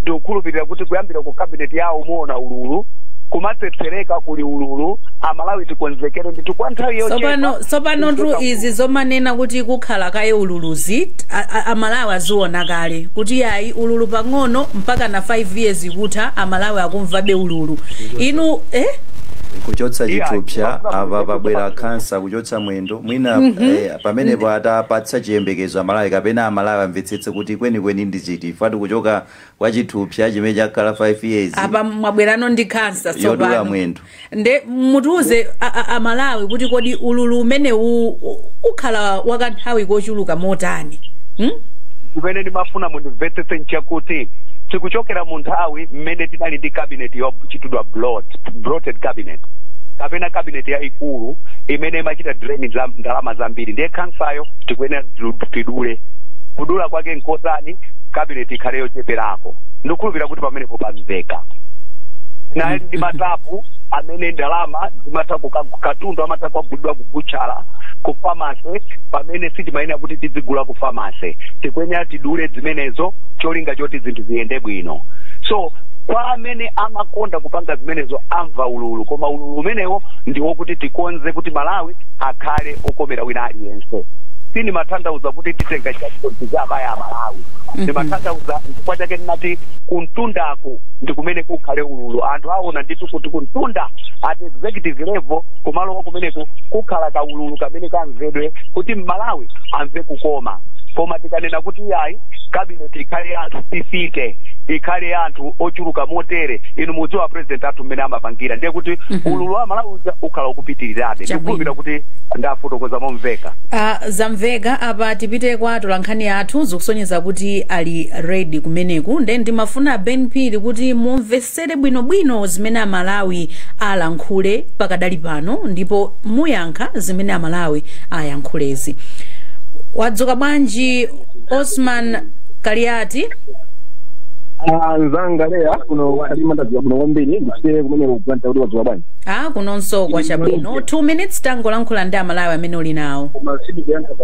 ndikukhulupirira kuti kuyambira ku cabinet yawo muona ululu kumatsetsereka kuli ululu amalawi tikonzekere ndithu kwa nthawi yochepa tsopano tsopano tu izi zomanena kuti kukhala kaye ululuzi a- a- amalawi aziona kale kuti yayi ululu pang'ono mpaka na 5 years kutha amalawi akumvabe ululu inu eh? kuchotsa chithupsa apa pabwera khansa kuchotsa mwendo mwina eh, pamenepo tapatsani chiyembekezo amalawi kapena amalawi amvetsetse kuti kwenikweni ndi chiti ngati kuchoka kwa chithupsa chimene chakhala 5 years apa mwabwerano ndi khansa yodula tsopano mwendo nde mutiuze a- a- amalawi kuti kodi ululu umenewu u- ukhala wakanthawi kochuluka motani hmm? zimene ndimafuna mundimvetsetse nchakuti tikuchokera mu nthawi mmene tinali ndi cabinet yochitidwa bloat- bloated cabinet kapena cabinet yaikulu imene imachita drain ndla- ndalama zambiri ndiye khansayo tikuyenera tidu- tidule kudula kwake nkotani cabinet ikhale yocheperako ndikukhulupirira kuti pamenepo pamveka ndi ma tap amene ndalama zimatha ku- katundu amatha kugulidwa ku butchala ku pharmacy pamene sitimayenera kuti tidzigula ku pharmacy tikuyenera tidule zimenezo cholinga choti zinthu ziyende bwino so kwa amene amakonda kupanga zimenezo amva ululu koma ululu umenewo ndi wokuti tikonze kuti malawi akhale okomera wina aliyense sindimatanthauza kuti titenga chakuti tizabaya amalawi ndimatanthauza chifukwa chake ndinati kumtunda kumeneko ndi kumene kukhale ululu anthu aona ndithu kuti kumtunda at executive level kumalo akumeneko kukhala kaululu kamene kamvedwe kuti mmalawi amve kukoma koma tikanena kuti iyayi kabineti ikhale ya anthu fifite ikhale ya anthu ochuluka motere inu mudziwa president athu mmene amapangira ndiye kuti Mhm. ululu wa malawi uja ukhala ukupitirirabe Chabwino. ndikukhulupirira kuti ndafotokoza momveka Ah, zamveka apa tipite kwa atolankhani athu zikusonyeza kuti ali ready kumeneku nde ndimafuna ben phiri kuti mumvesere bwinobwino zimene amalawi alankhule pakadali pano ndipo muyankha zimene amalawi ayankhulezi wadzuka bwanji osman kaliati anzanga leya kuno kalima ndadziwa kuno kwambiri ndisiyire kumene kupulanta kuti wadzuka bwanji a kunonso kwa chabwino 2 minutes tangolankhula ndi amalawi amene uli nawo koma sindikuyankha pa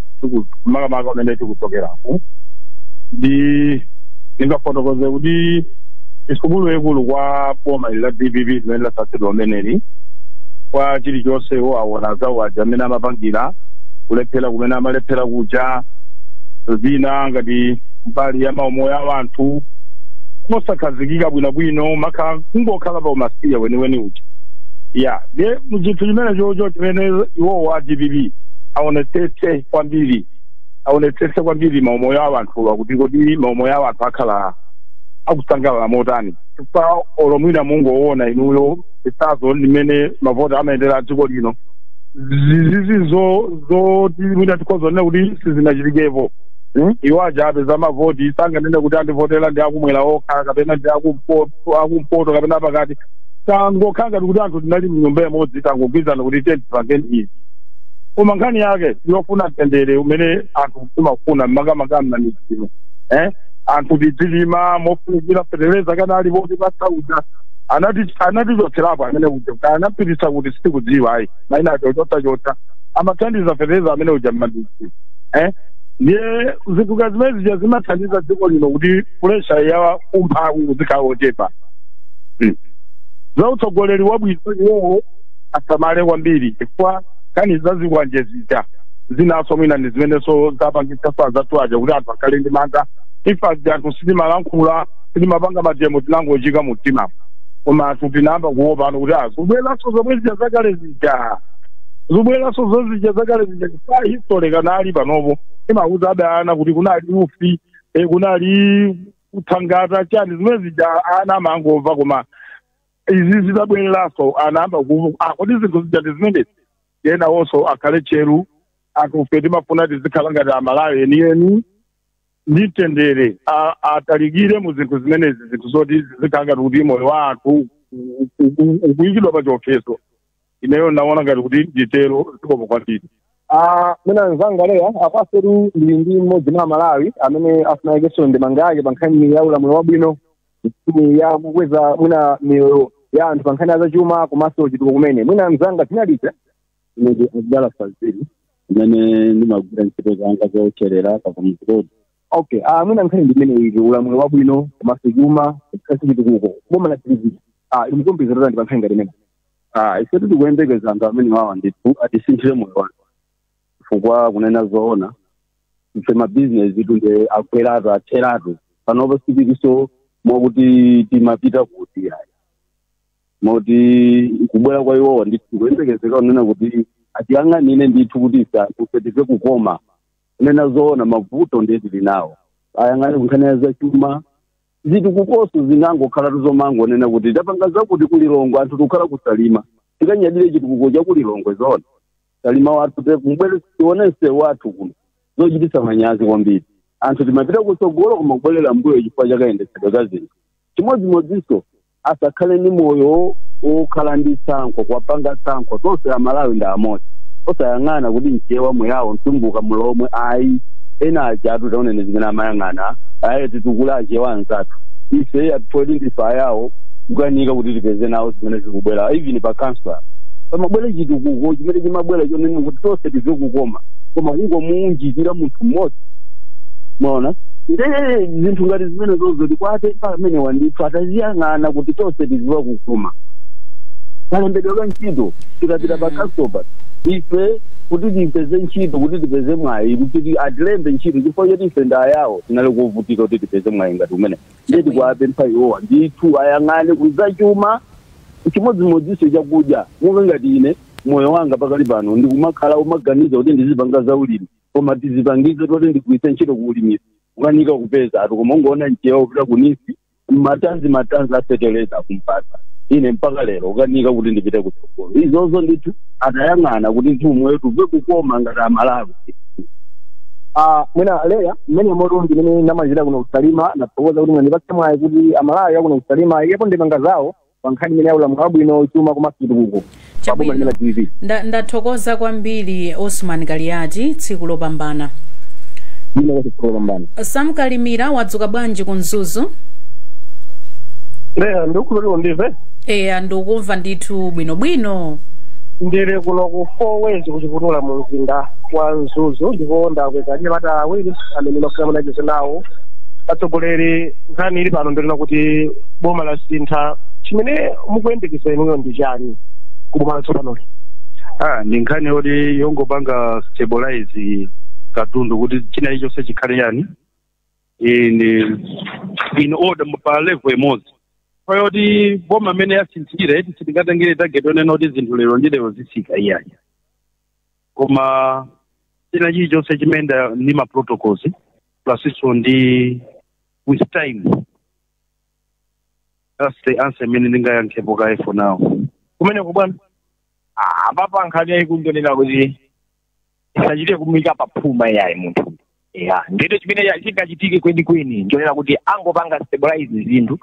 tiku- makamaka kumene tikuchokeraku ndi ndingafotokoze kuti ndi sukulu yaikulu kwa boma ili la dpp limene lasankhidwa limeneli kwa chilichonse iwo awona zawo aja amene amapangira kulephera kumene amalephera kuja zina ngati mbali ya maumoyo a anthu mosakhazikika bwinobwino maka kungokhala pa umasiya weniweni uja ya nde nchinthu chimenechocho chimene iwowo a dpp aonetsetse kwambiri aonetsetse kwambiri maumoyo a anthuwa kuti kodi maumoyo a anthu akhala akusangalala motani chifukwa olo mwina mungoona inuyo chitsanzo mmene mavoti amayendera dziko lino izizi ndi zoti mwina tikhozonena kuti sizinachitikepo Hmm? iwo aja apeza mavoti sanganene kuti andivotera ndi akumwera okha kapena ndi akumpoto akumpoto kapena pakati tangokhala ngati kuti anthu tinali mnyumba imodzi tangogwirizana kuti tiyeni tipange izi koma nkhani yake yofuna mtendere umene anthu timafuna makamaka mmamidzimu eh? anthu tidzilima mofunikira fetereza anali wotchipa sabuside anatichotserapo amene uja anapititsa kuti sitikudziwa ayi maina aja chotsachotsa amathandiza fetereza amene uja mmandisi eh? ndiye zinthu zimene zija zimathandiza dziko lino kuti pulesha ya umphawi izikhala yochepa Mm. za utsogoleri wabwino iwowo asamale kwambiri chifukwa nkhani za zikwanje zija zinanso mwina ndi zimenenso zapangitsa azathu aja kuti anthu akhale ndi mantha ife zija anthu sitimalankhula sitimapanga mademo tinangoika mumtima koma anthu tinayamba kuopa no kuti zibweranso zomwe zija zakale zija zibweranso zozija zakale zija chifukwa history kaya panopo imawauza ana kuti kunali ufiti e kunali kuthangata chani zimene zija ana amangomva koma izi zitabwereranso ana ayamba ku- ah, kodi zinthu zija ndi zimenezi ena iwonso akhale tcheru anthufe timafuna tizikhala ngati Amalawi enieni ndi mtendere a- atalikire mu zinthu zimenezi zinthu zoti zizikhala ngati kuti moyo wa anthu u- u- u- ukuyikidwa pa chiopsezo ineyo naona ngati kuti nditero zikomo kwambiri Ah, mwina mzanga leya apanso tu ndili ndi mmodzi mwa Amalawi amene afuna aikenso ndemanga yake pa nkhani ya ulamuliro wabwino nkhani ya kukweza mwina miyoyo ya anthu pa nkhani ya zachuma komanso chitukuko koma mwina mzanga dzina ndi ndani ine ndi Abdallah Fazili amene ndimagwira ntchito zanga zocherera pakamuzikodi okay ah, mwina nkhani ndi imeneyi ulamuliro wabwino komanso chuma komanso chitukuko boma la DPP ah, mukuyembekezera chani pa nkhani ngati imene Ah, ife tikuyembekeza anthu amenewawa ndithu atisinthire moyo wathu chifukwa kunena zoona ife mabizinesitu nde agweratu atheratu panopo sitilinso mwakuti timapita kuti ayi moti kubwera kwa iwowa ndithu tikuyembekezera kunena kuti atiyang'anire ndithu kuti ife anthu ife timve kukoma kunena zoona mavuto ndiye tili nawo ayang'ane kunkhani ya zachuma zitukukonso zinangokhalatu zomangonena kuti tapanga zakuti ku Lilongwe anthu tikukhala ku Salima tikanyadire chitukuko cha ku Lilongwe zoona Salima wathu te- mubwere tione msewu wathu kuno zochititsa manyazi kwambiri anthu sitimapita kutsogolo koma kubwerera mbuyo chifukwa cha kayendetsedwe ka zinthu chimodzimodzinso asakhale ndi moyo wokhala ndi tsankho kuwapanga tsankho tonse Amalawi ndi amodzi osayang'ana kuti Mchewa Muyawo Mtumbuka Mulomwe ayi ena ajatu taona zimene amayang'ana ayi titukule Achewa anzathu ife ati poti ndife Ayawo kukanika kuti tipeze nawo zimene zikubwera even pa kansala pamabwera chitukuko chimene chimabwera chonena kuti tonse timve kukoma koma kungomuunjikira munthu mmodzi mwaona nde zinthu ngati zimenezozo tikuwapempha amenewa ndithu aziyang'ane kuti tonse tizimva kukoma kalembedwe ka ntchito tikapita pa kanso pa ife kuti tipeze ntchito kuti tipeze mwayi kuti atilembe ntchito chifukwa choti ife nda Ayawo tinali kuvutika kuti tipeze mwayi ngati umenewo nde tikuwapempha iwowa ndithu ayang'ane kuzachuma chimodzimodzinso chakudya monga ngati ine moyo wanga pakali pano ndikumakhala kumaganiza kuti ndizipanga zaulimi koma tizipangizo toti ndigwiritse ntchito kuulimi ukanika kupezatu koma ungoona nzeru kupita kunsi mmatanzi matanzi a feteleza kundipatsa ine mpaka lero ukanika kuti ndipite kutsogolo izozo ndithu atayang'ana kuti dziko lathu timve kukoma ngati amalawi Ah, mwina leya mmene moto ndimene ndamalizira kuno kusalima ndathokoza kuti mwandipatsa mwayi kuti amalawi akuno kusalima ayikepo ndemanga zawo pa nkhani imeneyi ya ulamuliro wabwino chuma komanso chitukuko pa boma limene la Chabwino. dpp Nda- ndathokoza kwambiri osman kaliyati tsiku lopambana ine kwachitsulo pambana sam kalimira wadzuka bwanji ku mzuzu leha ndikhulupilira ukundimva eya ndikukumva ndithu bwinobwino ndili kuno ku four ways kuchibavi mu mzinda wa mzuzu ndipo ndakupezera anyamata awiri amene ndafuna ndicheze nawo achimwene nkhani ili pano ndi yonena kuti boma la sintha chimene mukuyembekeza inuyo ndi chani ku boma latsopanoli ah ndi nkhani yoti yongopanga stabilize katundu kuti china chilichonse chikhale yani in in order pa level imodzi poti boma langosintha eti sitingatengere target onena kuti zinthu lero ndi lero zitsika iyayi koma china chilichonse chimayenda ndi ma protocols plusnso ndi with time that's the answer imene ndingayankhepo kaye for now kumeneko bwana Ah, apapa nkhani yayikulu ndonena kuti isachite kumuika paphuma yayi munthu ya ndiye chimene ya- chingachitike kwenikweni ndonena kuti angopanga stabilize zinthu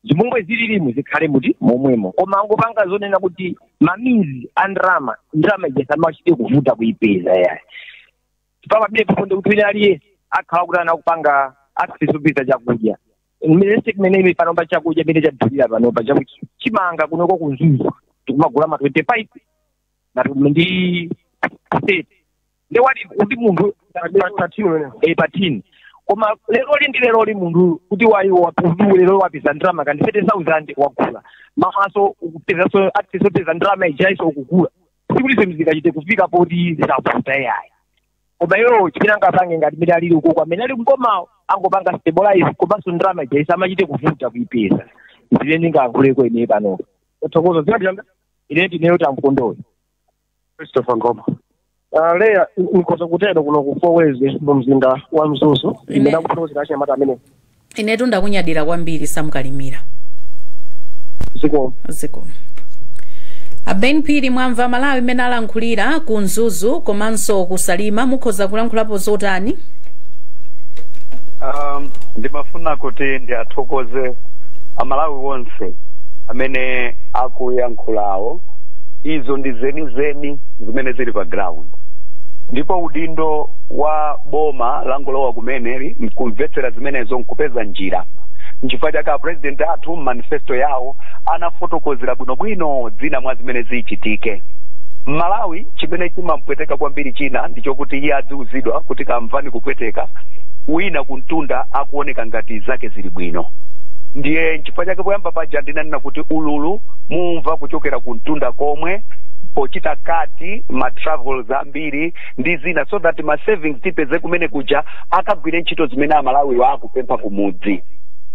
mmene zililimu zikhale mmene momwemo koma angopanga zonena kuti ma means a ndrama ndrama ija samachite kuvuta kuipeza yayi chifukwa pamene pafunika kuti wina aliyense akhala kuti akupanga accessibility chakudya mmene sikumene imi panopa chakudya imene chadulira panopa chakuti chimanga kunoko kumzuzu tikumagula ma 25 ngati ndi 30 ndi yoti kuti munthu eh, pa tini koma leroli ndi leroli munthu kuti wayiwo wapudu lero wapeza ndalama kandi 30000 wagula mawanso ukupezanso wapeza ndalama ijanso ukugula sikuti zinthu zingachite kufika poti zikavuta yayi koma iwo chimene angapange ngati mmene alili ukoko amene ali m'bomawo angopanga stabilize komanso ndalama ija isamachite kuvuta kuipeza zimene ndingayankhuleko ine panopa ndathokoza dzina langa ine ndineyo wamkondoyo christopher ngoma Uh, leya ndikhoza kutero kuno ku four ways mu mzinda wa mzuzu ndimene ndakupezera achinyamata amene inetu ndakunyadira kwambiri Sam Kalimira zikomo a Ben Phiri mwamva amalawi mmene alankhulira ku mzuzu komanso kusalima mukhoza kulankhulapo zotani um, ndimafuna kuti ndiathokoze amalawi onse amene akuyankhulawo izo ndi zenizeni zimene zili pa ground ndipo udindo wa boma langolowa kumeneli nkumvetsera zimenezo nkupeza njira nchifukwa chake apurezidenti athu mmanifesto yawo anafotokozera bwinobwino zina mwa zimene zichitike mmalawi chimene chimampweteka kwambiri china ndi chokuti iye adziwuzidwa kuti kamveni kupweteka wina kumtunda akuoneka ngati zake zili bwino ndiye nchifukwa chake poyamba paja ndinanena kuti ululu mumva kuchokera kumtunda komwe pochita cut ma travels ambiri ndi zina so that ma savings tipeze kumene kuja akagwire ntchito zimene amalawiwo akupempha kumudzi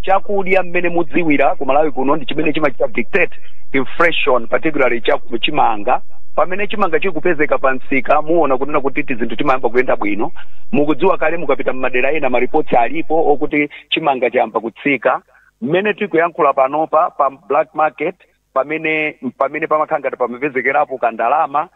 chakudya mmene mukudziwira ku malawi kuno ndi chimene chimachita dictate inflation particularly cha chimanga pamene chimanga chikupezeka pa msika muona kunena kuti tizinthu timayamba kuyenda bwino mukudziwa kale mukapita mmadera ena ma reports alipo okuti chimanga chayamba kutsika mmene tikuyankhula panopa pa black market pamene pamene pamakhala ngati pamapezekerapo kandalama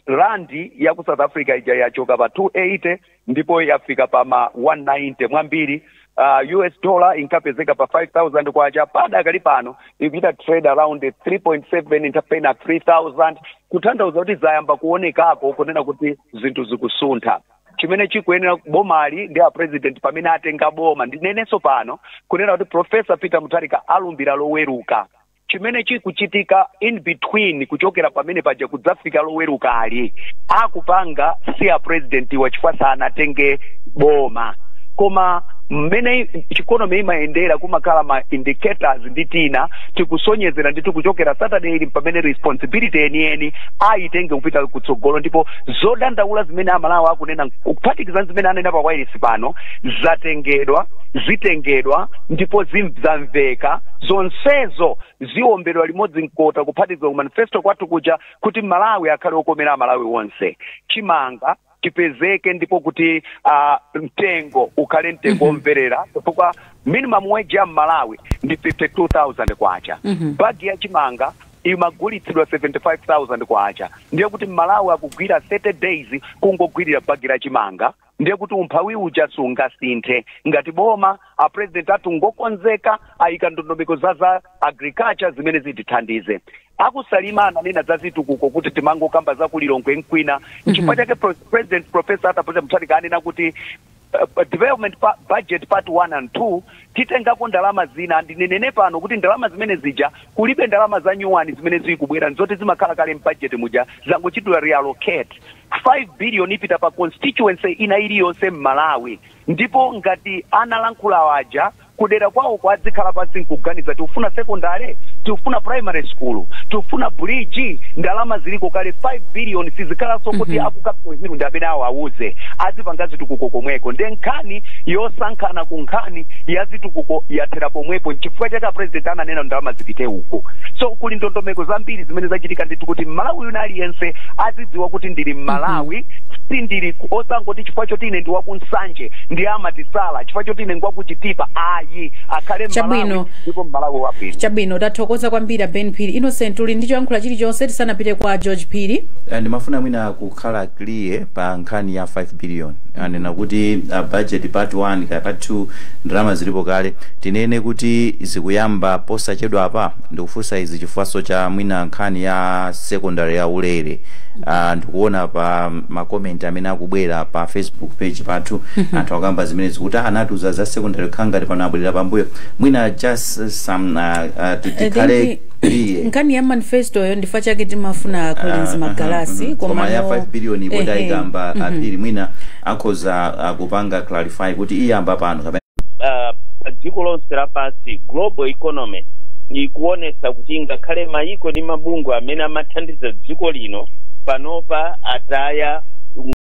randi ya ku south africa ija yachoka pa 280 ndipo yafika pa ma 190 mwambiri uh, us dollar inkapezeka pa 5000 kwacha padakali pano ikuchita trade around 3.7 mwinapena 3000 kutanthauza kuti zayamba kuonekako kunena kuti zinthu zikusuntha chimene chikuyenera bomali ndi a president pamene atenga boma ndinenenso pano kunena kuti profesa peter mutharika alumbira loweruka chimene chikuchitika in between kuchokera pamene paja kudzafika lowerukali akupanga si a president wa chifukwa sanatenge boma koma mmene economy imayendera kumakhala ma indicators ndi tina tikusonyezera ndiye tikuchokera saturday ili pamene responsibility yeniyeni ayitenge kupita kutsogolo ndipo zodandaula zimene amalawi akunena kuphatikiza ndi zimene anena pa wailesi pano zatengedwa zitengedwa ndipo zim- zamveka zonsezo ziombedwa limodzi mkota kuphatikiza ku manifesto kwathu kuja kuti malawi akhale okomera amalawi onse chimanga chipezeke ndipo kuti uh, mtengo ukhale mtengo womverera chifukwa minimum wage ya mmalawi ndi 52000 kwacha bagi ya chimanga imagulitsidwa 75000 kwacha ndiye kuti mmalawi akugwira 30 days kungogwirira bagi la chimanga ndiye kuti umphawi uja sungasinthe ngati boma a president athu ngokonzeka ayika ndondomeko za za agriculture zimene zitithandize akusalima ananena za zitukuko kuti timangokamba za kulilongwe nkwina nchifukwa chake pro- president professor Arthur Peter Mutharika anena kuti uh, development budget part 1 and 2 Titengako ndalama zina, ndinenenso pano kuti ndalama zimene zija kulibe ndalama za nyuwani zimene zikubwera nzoti zimakhala kale m'bajeti muja zangochitidwa reallocate. 5 billion ipita pa constituency ina iliyonse m'Malawi ndipo ngati analankhula aja kudera kwawoko adzikhala pansi nkuganiza tikufuna secondary? Tikufuna primary school? Tikufuna bridge? Ndalama ziliko kale 5 billion sizikhalanso zoti aku Capital Hill ndi amene awo awauze, azipanga zitukuko komweko nde nkhani yosankhana. kuchokera ku nkhani ya zitukuko yathera pomwepo nchifukwa chake apresident ananena ndalama zipite uko so kuli ndondomeko zambiri zimene zachitika ndithu kuti mmalawi wina aliyense azidziwa kuti ndili mmalawi si ndili ku- osangoti chifukwa choti ine ndi waku Nsanje nde amatisala chifukwa choti ine ndi waku Chitipa ayi akhale mmalawi ndipo mmalawi wabwino chabwino tathokoza kwambiri a ben phiri innocent uli ndi choyankhula chilichonse tisanapite kwa george phiri Eh, ndimafuna mwina ku kukhala clear pa nkhani ya 5 billion anena kuti uh, budget part 1 kaya part 2 ndalama zilipo kale tinene kuti zikuyamba posachedwa apa ndikufunsa izi chifukwaso cha mwina nkhani ya secondary ya ulere uh, ndikuona pa makomenti amene akubwera pa facebook page pathu anthu akamba zimene zikuti "Ah, anatiuza za secondary kukhala ngati pano abwerera pambuyo mwina just uh, some uh, uh, tikhale iye nkhani ya manifestoyo nchifukwa chake timafuna a Collins Magalasi koma ya 5 billion poti ayikamba a Phiri mwina akhoza kupanga clarify kuti iyamba pano kapena ah, pa dziko lonse lapansi global economy ikuonesa kuti ngakhale mayiko ndi mabungwe amene amathandiza dziko lino panopa ataya